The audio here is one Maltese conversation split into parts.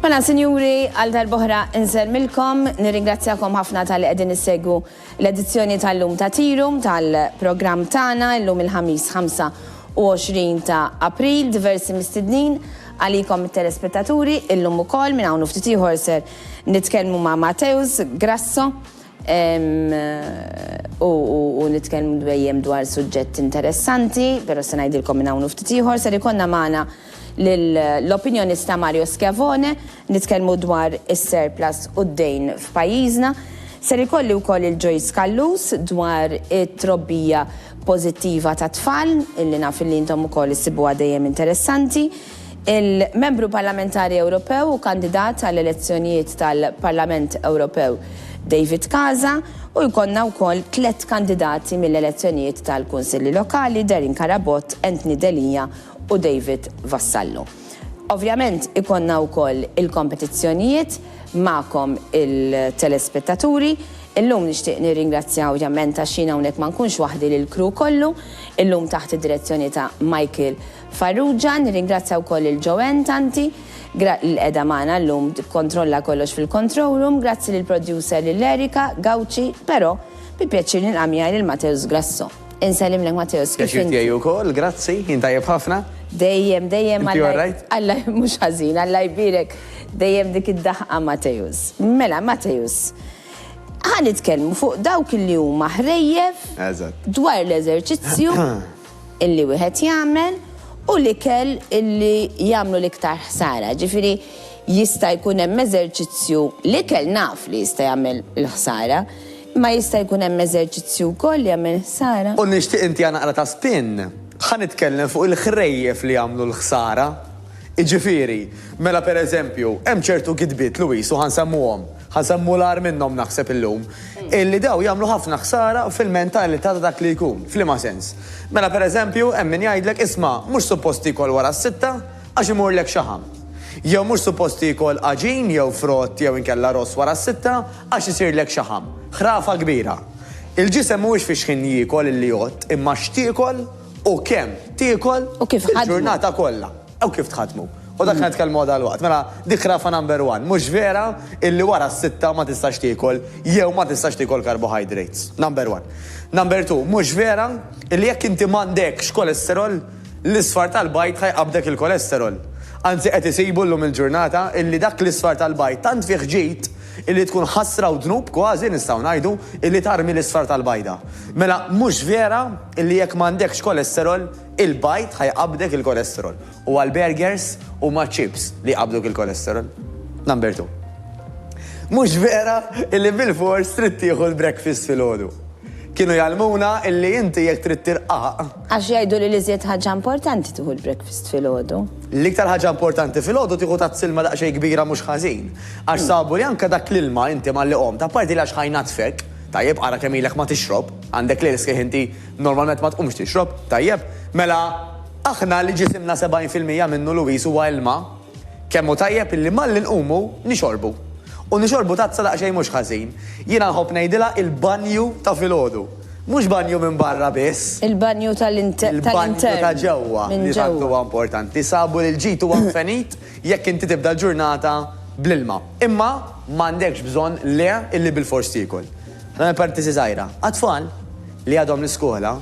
Mela, sinjuri, għal darbohra nżermilkom, nirringrazzjakom ħafna tal-li għedin nissegu l-edizzjoni tal-lum ta' tirum tal-program tana, l-lum il-ħamis 25 ta' april, diversi mistednin għalikom il-telespettaturi, il-lum u kol minn għawnu ftitiħor ser nitkelmu ma' Mateus Grasso, u nitkellmu dwejjem dwar suġġett interessanti, però se ngħidilkom minn hawn u ftit ieħor, ser ikollna magħna l-opinjonista Mario Schiavone, nitkellmu dwar is-surplus u d-dejn f'pajjiżna. Ser ikolli wkoll lil Joyce Callus dwar it-trobbija pożittiva tat-tfal, illi naf illi intom ukoll issibuha dejjem interessanti. Il-Membru Parlamentari Ewropew u kandidat għall-elezzjonijiet tal-Parlament Ewropew David Casa u jkollna wkoll tliet kandidati mill-elezzjonijiet tal-Kunsilli Lokali, Darren Carabott, Anthony Delia u David Vassallo. Ovvjament ikollna wkoll il-kompetizzjonijiet magħkom il-telespettaturi. Illum nixtieq nirringrazzja ovvjament għax jien hawnhekk ma nkunx waħdi lill-crew kollu, illum taħt id-direzzjoni ta' Michael Farrugia, nirringrazzja wkoll lil Joanne Tanti, gra, li qiegħda magħna llum tikkontrolla kollox fil-control room, grazzi lill-producer lil Erica, Gauci, però bi pjaċir nilqa' miegħi lil Mateus Grasso. Insellimlek Mateus, kif inti? Pjaċir tiegħi wkoll, grazzi, jien tajjeb ħafna. Dejjem, dejjem Alla. Inti all right? Alla, mhux ħażin, Alla jbierek. Dejjem dik id-daħqa Mateus. Mela, Mateus, ħa nitkellmu fuq dawk li huma ħrejjef dwar l-eżerċizzju. illi wieħed jagħmel u l-ikel illi jagħmlu l-iktar ħsara. Ġifieri jista' jkun hemm eżerċizzju, l-ikel naf li jista' jagħmel il-ħsara, imma jista' jkun hemm eżerċizzju wkoll li jagħmel ħsara. U nixtieq intiha naqra ta' spin. Ħa nitkellem fuq il-ħrejjef li jagħmlu l-ħsara. Jiġifieri, mela per eżempju, hemm ċertu gidbiet, Louise, u ħa nsemmuhom, ħa nsemmu l-agħar minnhom naħseb illum, illi dawn jagħmlu ħafna ħsara fil-mentalità ta' dak li jkun. F'liema sens? Mela per eżempju, hemm min jgħidlek, isma', mhux suppost tiekol wara s-sitta għax imurlek xaħam. Jew mhux suppost tiekol għaġin jew frott jew inkella ross wara s-sitta għax isirlek xaħam. Ħrafa kbira. Il-ġisem mhuwiex fix-xħin jiekol illi jgħodd, imma x'tiekol. U kemm tiekol il-ġurnata kollha. U kif tħaddmu. U dak li nitkellmu għal dalwaqt. Mela dik ħrafa number one. Mhux vera illi wara s-sitta ma tistax tiekol jew ma tistax tiekol carbohydrates. Number one. Number two, mhux vera illi jekk inti m'għandekx cholesterol, l-isfar tal-bajd ħa jqabbdek il-cholesterol. Anzi qed isibu llum il-ġurnata illi dak l-isfar tal-bajd tant fih ġid, Illi tkun ħasra u dnub, kważi, nistgħu ngħidu, illi tarmi l-isfar tal-bajda. Mela, mhux vera illi jekk m'għandekx kolesterol, il-bajd ħa jqabbdek il-kolesterol. Huwa l-burgers huma ċ-ċips li jqabbduk il-kolesterol. Number two. Mhux vera illi bilfors trid tieħu l-breakfast filgħodu. Kienu jgħallmuna illi inti jekk trid tirqaq, Għax jgħidu li l-iżjed ħaġa importanti tieħu l-breakfast filgħodu. L-iktar ħaġa importanti filgħodu tieħu tazz ilma daqsxejn kbira mhux ħażin. Għax sabu li anke dak l-ilma inti malli qomt, apparti li għax ħa jnaddfek, tajjeb, ara kemm ilek ma tixrob, għandek lejl sħiħ inti normalment ma tqumx tixrob, tajjeb, mela aħna li ġisimna 70 fil-mija minnu Louise huwa ilma, Kemm hu tajjeb illi malli nqumu nixorbu. U nixorbu tazza daqsxejn mhux ħażin. Jiena nħobb ngħidilha il-banju ta' filgħodu. Mhux banju minn barra biss. Il-banju tal-intern. Il-banju ta' ġewwa li tant huwa importanti. Sabu li l-ġid huwa mfenit jekk inti tibda l-ġurnata bl-ilma. Imma m'għandekx bżonn le illi bilfors tiekol. Nagħmel parentesi żgħira. Għat-tfal li għadhom l-iskola,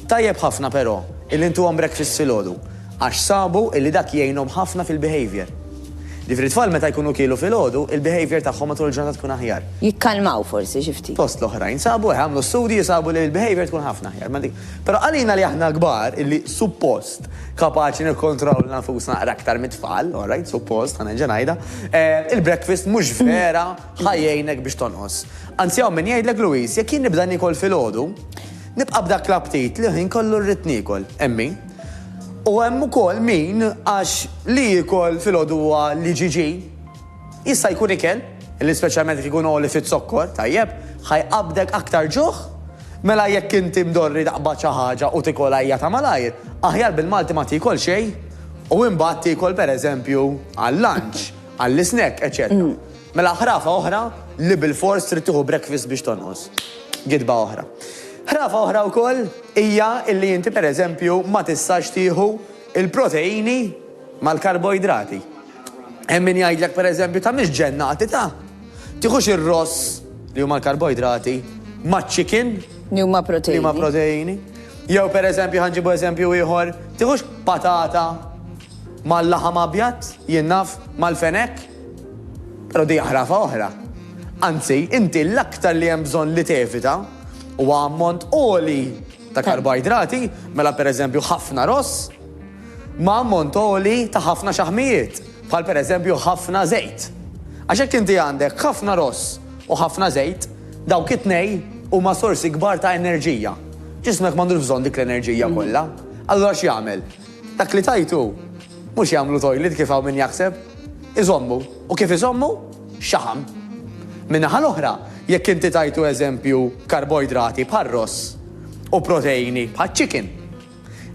tajjeb ħafna però illi ntuhom breakfast filgħodu għax sabu illi dak jgħinhom ħafna fil-behaviour. Ġifieri t-tfal meta jkunu kielu filgħodu, il-behaviour tagħhom matul il-ġurnata tkun aħjar. Jikkalmaw forsi xi ftit. Fost l-oħrajn sabu hekk, għamlu studji u sabu li l-behaviour tkun ħafna aħjar ma' dik. Però għalina li aħna kbar illi suppost kapaċi nikkontrollaw lil nfusna naqra aktar mit-tfal, alright, suppost, ħa nerġa' ngħidha, il-breakfast mhux vera ħa jgħinek biex tonqos. Anzi hawn min jgħidlek Louise, jekk jien nibda nikol filgħodu, nibqa' b'dak l-aptit li ħin kollu rrid nikol. Hemm min. U hemm ukoll min għax li jikol filgħodu huwa li ġiġi jista' jkun ikel, li speċjalment jekk ikun għoli fiz-zokkor, tajjeb, ħajqabdek aktar ġuħ, mela jekk inti mdorri taqbad xi ħaġa u tikol għajja ta' malajr, aħjar bil-Malti ma tikol xejn u imbagħad tikol pereżempju għal-lunch, għall-isnack, eċċetera. Mela ħrafa oħra li bilfors trid tieħu breakfast biex tonqos. Gidba oħra. Ħrafa oħra wkoll hija illi inti pereżempju ma tistax tieħu il-proteini mal-karboidrati. Hemm min jgħidlek pereżempju ta' mhix ġennati ta' tieħux ir-ross li huma l-karboidrati maċ-chicken Li huma li proteini. huma proteini. Jew pereżempju ħanġibu eżempju ieħor, tieħux patata mal-laħam abjad, jien naf, mal-fenek. Però di ħrafa oħra. Anzi, inti l-aktar li hemm bżonn li tevita huwa ammont għoli ta' karboidrati, mela pereżempju ħafna ross, ma' ammont għoli ta' ħafna xaħmijiet, bħal pereżempju ħafna żejt. Għax jekk inti għandek ħafna ross u ħafna żejt, dawk it-tnejn huma sorsi kbar ta' enerġija. Ġismek m'għandux bżonn dik l-enerġija kollha. Allura x'jagħmel? Dak li tajtu Mhux jagħmlu toilet kif hawn min jaħseb. Iżommu. U kif iżommu? Xaħam. Min-naħa l-oħra, jekk inti tajtu eżempju karboidrati bħar-ross u proteini bħaċ-chicken,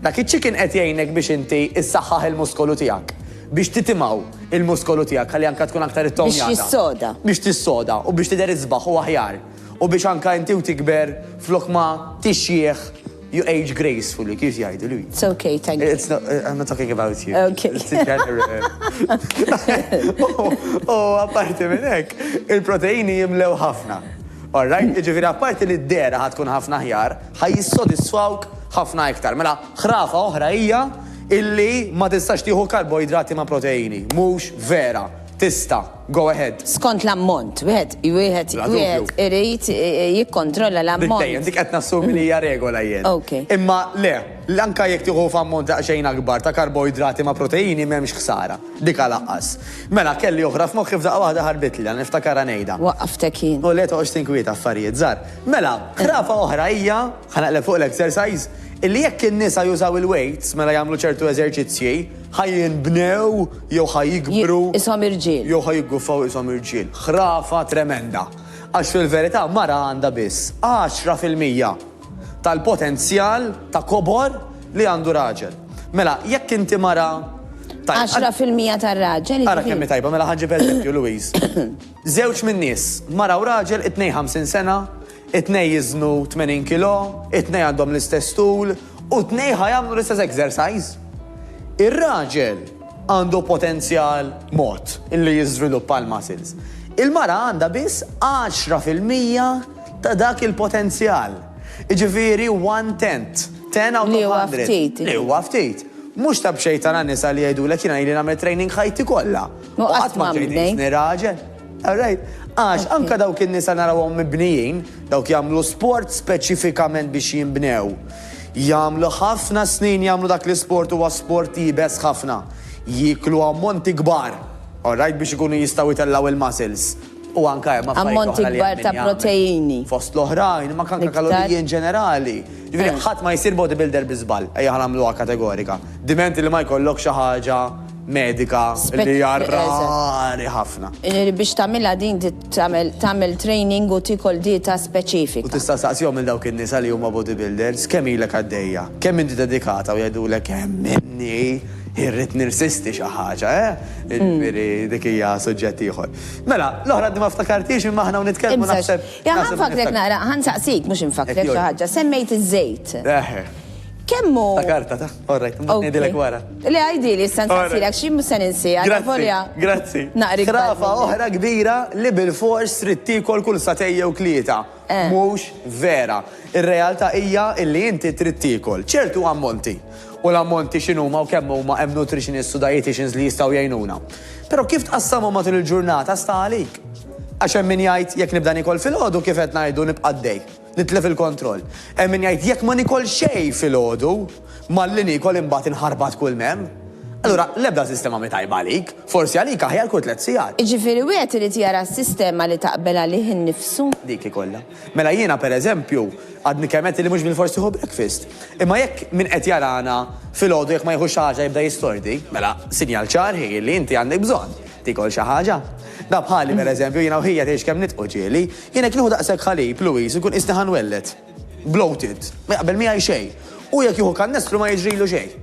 dak iċ-chicken qed jgħinek biex inti issaħħaħ il-muskolu tiegħek, biex titimgħu il-muskolu tiegħek ħalli anke tkun aktar ittownjata. Biex jissoda. Biex tissoda u biex tidher isbaħ u aħjar. u biex anka inti u tikber flok ma tixjieħ you age gracefully, kif jgħidu li? It's okay, thank you. It's not, uh, I'm not talking about you. Okay. U apparti minn hekk, il-proteini jimlew ħafna. All right, mm. ġifieri apparti li d-dera ħatkun ħafna ħjar, ħaj jissodisfawk ħafna iktar. Mela, ħrafa oħra hija illi ma tistax tieħu karboidrati ma' proteini. Mhux vera, tista'. Go ahead. Skont l-ammont, wieħed wieħed wieħed irid jikkontrolla l-ammont. Dejjem dik qed nassumi li hija regola jien. Okay. Imma le, l-anka jekk tieħu f'ammont daqsxejn akbar ta' karboidrati ma' proteini m'hemmx ħsara. Dika laqqas. Mela kelli oħra f'moħħi f'daqqa waħda ħarbitli, għan niftakarha ngħidha. Waqqaftek jien. U le toqgħodx tinkwieta affarijiet żgħar. Mela, ħrafa oħra hija, ħa naqleb fuq l-exercise, illi jekk in-nisa jużaw il-weights mela jagħmlu ċertu eżerċizzji, Ħa jinbnew jew ħa jikbru. Ishom irġiel. Jew ħa jigguffaw ishom irġiel. Ħrafa tremenda. Għax fil-verità mara għandha biss għaxra fil-mija tal-potenzjal ta' kobor li għandu raġel. Mela, jekk inti mara Għaxra fil-mija tar-raġel. Ara jiġifieri- kemm tajba, mela ħanġib eżempju, Louise. Żewġ minn nies, mara u raġel 52 sena, It-tnejn jiżnu 80 kilo, it-tnejn għandhom l-istess tul u t-tnejn ħa jagħmlu l-istess exercise. Ir-raġel għandu potenzjal mod li jiżviluppa l-muscles. Il-mara għandha biss 10 fil-mija ta' dak il-potenzjal. Jiġifieri one tenth, ten out of hundred. Li huwa ftit. Li huwa ftit. Mhux ta' b'xejn tara nisa li jgħidulek jiena ili nagħmel training ħajti kollha. U qatt ma tgħidilni raġel. All right? Għax anke dawk in-nisa narawhom mibnijin, dawk jagħmlu sport speċifikament biex jinbnew. Jagħmlu ħafna snin jagħmlu dak l-isport huwa sport iebes ħafna. Jieklu ammonti kbar, all right, biex ikunu jistgħu jtellgħu il-muscles. U anke hemm affarijiet oħra li Ammonti kbar hemm ta' min jagħmel. proteini. Fost l-oħrajn, ma kanka Iktar. kaloriji in ġenerali. Ġifieri ħadd ma jsir bodybuilder bi żball, ejja ħa nagħmluha kategorika. Diment li ma jkollok xi ħaġa medika li hija rari ħafna. Biex tagħmilha din tagħmel training u tiekol dieta speċifika. U tista' tistaqsihom lil dawk in-nisa li huma bodybuilders kemm ilek għaddejja, kemm inti dedikata u jgħidulek hemm inni irrid nirsisti xi ħaġa, eh? Jiġifieri dik hija suġġett ieħor. Mela, l-oħra għadni ma ftakartix imma aħna hawn nitkellmu naħseb. Ħa nfakkrek naqra, ħa nsaqsik mhux infakkrek xi ħaġa, semmejt iż-żejt. Kemm hu. Ftakartha. All right, imbagħad ngħidilek wara. Le għidili issa nsaqsilek xi mhux se ninsiha. Grazzi. Grazzi. Naqri. Ħrafa oħra kbira li bilfors trid tiekol kull satej jew tlieta. Eh. Mhux vera. Ir-realtà hija illi inti trid tiekol ċertu ammonti. U l-ammonti x'inhuma u kemm huma hemm nutritionist u dietitians li jistgħu jgħinuna. Però kif tqassamhom matul il-ġurnata sta għalik. Għax hemm min jgħid jekk nibda nikol fil-ħodu kif qed ngħidu nibqa' dej. Nitlef il-kontroll. Hemm min jgħid jekk ma nikol xejn filgħodu, malli niekol imbagħad inħarbat kull m'hemm. Allura, l-ebda sistema mhi tajba għalik. Forsi għalik aħjar kull tliet sigħat. Jiġifieri wieħed irid jara s-sistema li taqbel għalih innifsu. Dik ikollha. Mela jiena per eżempju, għadni kemm għedt li mhux bilfors nieħu breakfast. Imma jekk min qed jarana filgħodu jekk ma jieħux xi ħaġa jibda jistordi, mela sinjal ċar hi li inti għandek bżonn tikol xi ħaġa. Da bħali per eżempju jiena u ħija tgħix kemm nitqu ġieli, Jien jekk nieħu daqshekk ħalib, Louise, inkun qisni ħa nwelled. Bloated. Ma jaqbel miegħi xejn. Hu jekk jieħu kannestru ma jiġrilu xejn.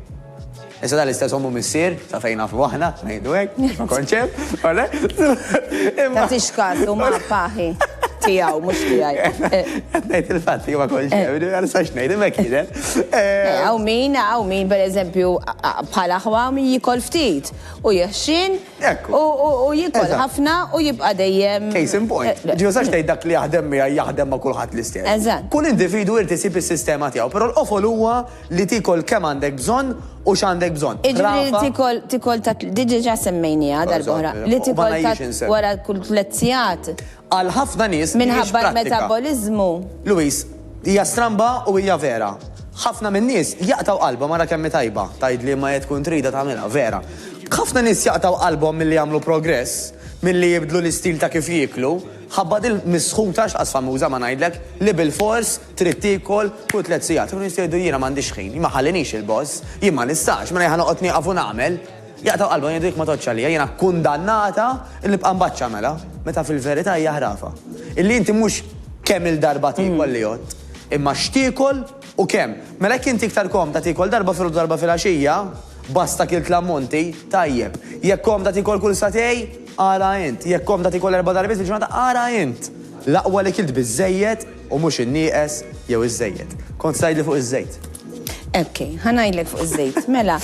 Issa dan l-istess ommu missier, ta' fejn nafu aħna, ngħidu hekk, biex ma kontx hemm, ole? Imma. Tagħtix kas u ma paħi tiegħu mhux tiegħi. Qed ngħid il-fatt li ma kontx hemm, eh. għal sax ngħid imma kienet. Eh. Eh, hawn min, hawn min pereżempju bħal aħwa min jikol ftit u jeħxin Hekk. U u u jikol Eżatt. ħafna u jibqa' dejjem. Case in point. Eh, Ġi usax tgħid dak li jaħdem miegħi jaħdem ma' kulħadd l-istess. Eżatt. Kull individwu jrid isib is-sistema tiegħu, però l-qofol huwa li tiekol kemm għandek bżonn u x'għandek bżonn. Iġifieri li Rafa- tikol tikol ta' di diġà semmejniha darb'oħra. Eżatt, Li u ma tikol ngħidx ta' insem. wara kull tliet sigħat. Għal ħafna nies mhijiex prattika. Minħabba l-metaboliżmu. Louise, Hija stramba u hija vera. Ħafna min-nies jaqtgħu qalbhom ara kemm hi tajba, tgħidli imma hija tkun tridha tagħmilha, vera. Ħafna nies jaqtgħu qalbhom milli jagħmlu progress, milli jibdlu l-istil ta' kif jieklu, ħabba din misħuta x'qas famuża ma ngħidlek, li bilfors trid tiekol kull tliet sigħat. U nies jgħidu jiena m'għandix ħin, ma jħallinix il-boss, jien ma nistax, mela jien ħa noqgħod nieqaf u nagħmel. Jaqtgħu qalbhom, jgħidu jekk ma tgħoddx għalija, jiena kkundannata li nibqa' mbaċċa mela, meta fil-verità hija ħrafa. Illi inti mhux kemm-il darba tiekol li għodt, imma x'tiekol u kemm. Mela jekk inti iktar komda tiekol darba filgħodu u darba filgħaxija, basta kilt l-ammonti, tajjeb. Jekk komda tiekol kull sagħtej, ara int. Jekk komda tiekol erba' darbiet fil-ġurnata, ara int. L-aqwa li kilt biżżejjed, U mhux in-nieqes jew iż-żejjed. Kont se tgħidli fuq iż-żejt. Ok, ħa ngħidlek fuq iż-żejt. Mela,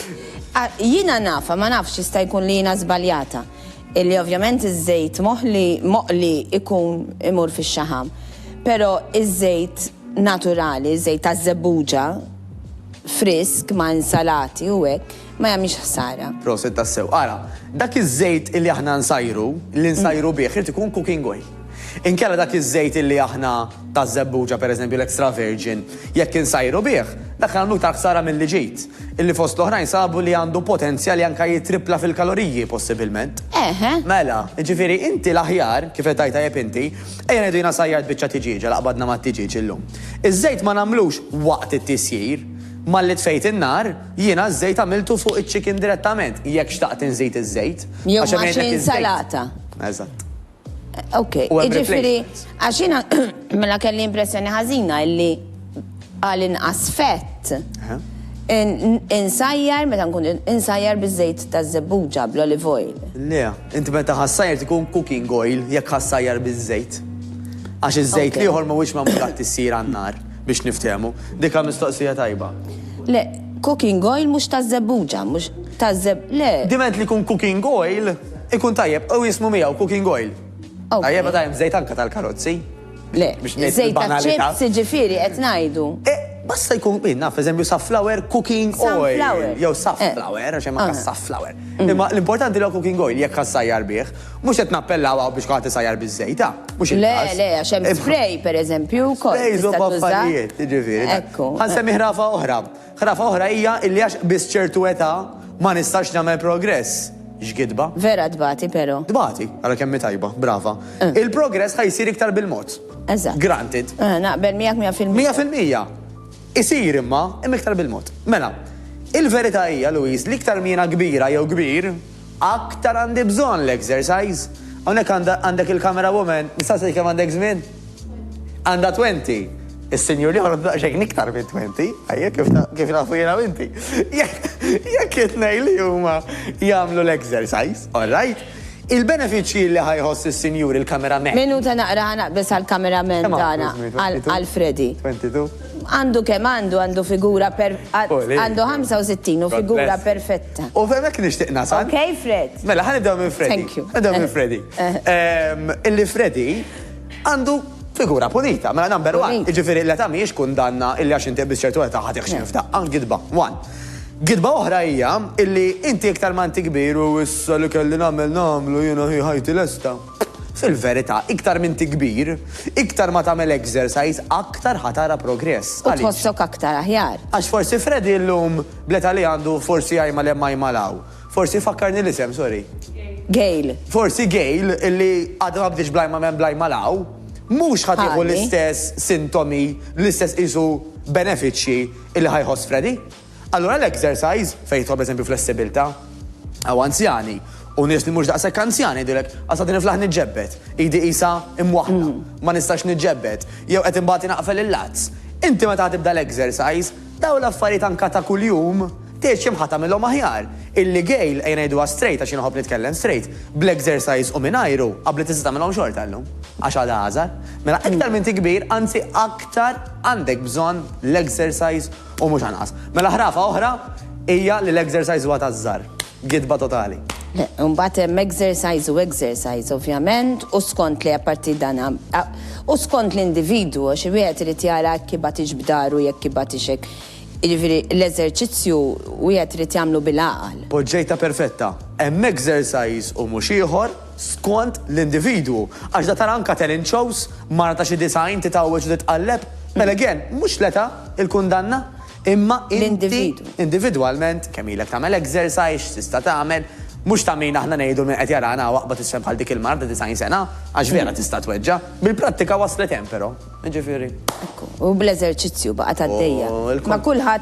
jiena nafha, ma nafx jista' jkun li jiena żbaljata, li ovvjament iż-żejt moħli, moqli jkun imur fix-xaħam. Però iż-żejt naturali, iż-żejt taż-żebbuġa, frisk ma' insalati u hekk, ma jagħmilx ħsara. Proset tassew. Ara, dak iż-żejt illi aħna nsajru, li nsajru bih, irid ikun cooking oil. Inkella dak iż-żejt illi aħna taż-żebbuġa pereżempju l-extra virgin, jekk insajru bih, dak nagħmlu iktar ħsara milli ġid, illi fost l-oħrajn sabu li għandu potenzja li anke jittrippla fil-kaloriji possibilment. Eħe. Mela, jiġifieri inti l-aħjar, kif qed tgħid tajjeb inti, ejja ngħidu jiena sajjart biċċa tiġieġa li qbadna mat-tiġieġ illum. Iż-żejt ma nagħmlux waqt it-tisjir, malli tfejt in-nar, Jiena ż-żejt għamiltu fuq iċ-chicken direttament, jekk xtaqt inżid iż-żejt. Jew Għax hemm ma' jgħidlek xi iż-żejt. insalata. Eżatt. Ok, U hemm jiġifieri replacements. għax jiena mela kelli impressjoni ħażina illi għal inqas fett Eħe. in- in- insajjar meta nkun insajjar biż-żejt taż-żebbuġa bl-olive oil. Le, inti meta ħassajr tkun cooking oil jekk ħassajjar biż-żejt. Għax iż-żejt Ok. l-ieħor mhuwiex magħmul għat-tissir għan-nar. Biex niftehmu. Dika mistoqsija tajba. Le, cooking oil mhux taż-żebbuġa, mhux taż-żeb, le. Diment li jkun cooking oil, ikun tajjeb, u jismu miegħu cooking oil. Ok. Tajjeb meta hemm żejt anke tal-karozzi. Le, Biex ngħid żejt il-banalità. taċ-chips jiġifieri qed ngħidu. E, basta jkun, jien naf, eżempju, safflower cooking oil. Sunflower. Jew Eh. safflower, għax hemm anke Aha. safflower. Imma l-importanti li huwa cooking oil jekk ħassajjar bih. Mhux qed nappellaw hawn biex kulħadd isajjar biż-żejt, ah, mhux il-każ. Le, le, għax hemm spray, pereżempju, wkoll. Sprays huma affarijiet, jiġifieri. Ekku. Ħa nsemmi ħrafa oħra. Ħrafa oħra hija illi għax qbiżt ċertu età ma nistax nagħmel progress. X'gidba. Vera tbati però. Tbati, ara kemm hi tajba, brava. Eh. Il-progress ħa jsir iktar bil-mod. Eżatt. Granted. Eh, naqbel miegħek 100%. 100%. Isir imma, imma iktar bil-mod. Mela, il-verità hija, Louise, li iktar miena kbira jew kbir, Aktar għandi bżonn l-exercise. Hawnhekk għandek il-camera woman, nista' nsaqsik kemm għandek żmien? Għandha twenty. Is-sinjur l-ieħor għandu daqsxejn iktar minn twenty, ajja kif nafu jiena u inti. Jekk it-tnejn li huma jagħmlu l-exercise, all right? Il-benefiċċji li ħa jħoss is-sinjur il-camera man. Minuta naqra ħa naqbeż għall-camera man tagħna, għal Freddy. Twenty two? Għandu kemm għandu, għandu figura per, għandu 65 u figura perfetta. U f'hemmhekk nixtieq nasal. Okay, Fred. Mela, ħa nibdew minn Freddy. Thank you. Nibdew minn Freddy. Ehm, illi Freddy għandu figura pulita, mela number one, iġifiri l-età miex kun danna illi għax inti biss ċertu età ħatiħ xi f'daqqa, gidba, one. Gidba oħra hija illi inti iktar ma inti kbir u issa li kelli nagħmel nagħmlu jiena hi ħajti lesta. Fil-verità, iktar minn kbir, iktar ma tagħmel exercise, aktar ħatara progress. U tħossok aktar aħjar. Għax forsi Freddy llum Bl-età li għandu forsi ajmal hemm ajmal hawn. Forsi fakkarni l-isem, sorry. Gail. Forsi Gail, illi għadha ma bdietx bl-ajmal hemm bl-ajmal hawn, mhux ħa tieħu l-istess sintomi, l-istess qisu benefiċċji illi ħa jħoss Freddie. Allura l-exercise, fejn jidħol pereżempju flessibilità, hawn anzjani u nies li mhux daqshekk anzjani jgħidulek għax qed niflaħ niġġebbed, idi qisha imwaħħla, ma nistax niġġebbed, jew qed imbagħad inaqfel il-lazz. Inti meta ħa tibda l-exercise, Dawn l-affarijiet anka ta' kuljum, tgħid xi mħa tagħmilhom aħjar. Il-ligejl, ejja ngħiduha straight għax jien nħobb nitkellem straight, bl-exercise u mingħajru, qabbli tista' tagħmilhom xorta llum, għax għada għażar. Mela iktar m'inti kbir, anzi aktar għandek bżonn l-exercise u mhux anqas. Mela ħrafa oħra hija li l-exercise huwa taż-żgħar. Gidba totali. Imbagħad hemm exercise u exercise ovvjament u skont li apparti dan u skont l-individwu għax wieħed irid jara jekk ibgħatix b'daru jekk ibgħatix hekk. Jiġifieri l-eżerċizzju wieħed irid jagħmlu bil-għaqal. Poġġejtha perfetta. Hemm exercise u mhux ieħor skont l-individwu għax da tara anke talent shows, mara ta' xi 90 titgħawweġ u titqalleb. Mela again, mhux l-età il-kundanna. Imma inti individwalment kemm ilek tagħmel exercise, x'tista' tagħmel, mhux ta' min aħna ngħidu min qed jarana hawn aqbad isfel bħal dik il-mara ta' 90 sena, għax vera tista' tweġġa'. Bil-prattika waslet hemm però. Jiġifieri. Ekku. U bl-eżerċizzju baqgħet għaddejja. Ma' kulħadd.